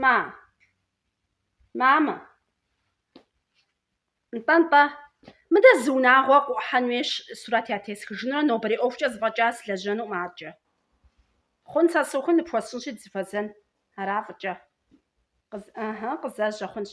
Ма. Мамэ. Нтӏэ-нтӏэ. Мыдэ зы унагъуэ къыӏухьэну хуейщ, сурэт ятесхынурэ нобэрей ӏуэхукӏэ зыфӏэкӏа сылэжьэнукъым аркӏэ. Хъун, сэ сыухым, ныпхуэсщӏынщи дызыфэзэн. Ара, фӏыкӏэ. Къыз... ыхьы, къызэжьэ хъунщ.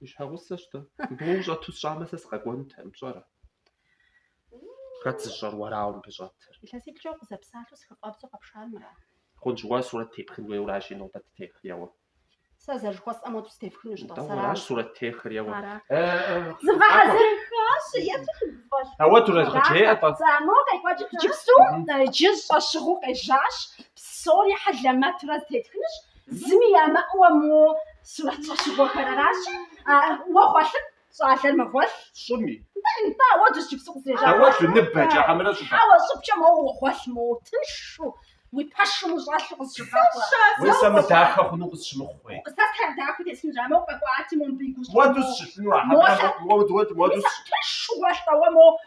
Уи щхьэгъусэ щытуэ мыбы щӏэту сщӏамэ, сэ сыкъэкӏуэнутэкъым, пщӏэрэ? Хэт зыщӏэр уэрауэ мыбы щӏэтыр? Илъэситӏкӏэ укъызэпсалъэу сыхыфӏэбдзэу къэпшамрэ? Хъунщ, уэ сурэт тепхыну ухуейуэ аращи, нобэ тех, еуэ. Сэ зэрыжыхуэсӏэм уэ сытепхынущ-тӏэ, Атӏэ, сэрам. уэращ сурэт техыр, еуэ. Ара. Зыфӏэгъэзэрыхащ, еплъу сыдыфӏэлъ. Ауэ дурезгъэджеӏэ, тӏэ. Цӏамэу къекӏуэкӏ. Иджыпсту, иджы щӏэщыгъуу къежьащ, псори хьэлэмэтурэ зытетхынущ, Зыми ямыӏэуэ мо сурэт щӏэщыгъуэхэр аращи, уэ гъуэлъыт, щӏалэ, мыбы гъуэлъ. Щӏыми. Нтӏэ, уэ иджыпсту къызежьа гъуэлъ. Ауэ лыныбэкӏэ хьэмэрэ щӏыпӏэ? Хьэуэ, щӏыбкӏэ моуэ уэ гъуэлъ, моуэ тыншу, уи пэшым ущӏэлъу къызыщыгъэхъу. Уэ сэ мыдахэ хъуну къысщымыхъуи? Сэ сэ дахэ тесыну жаӏэ, моуэ къэкӏуати, моуэ мыбы и гущӏэм. Уэ дауэ сыщылъыну а хьэмэрэ? Моуэ сыщылъыну? Мис а тыншу гъуэлъ-тӏэ уэ, моуэ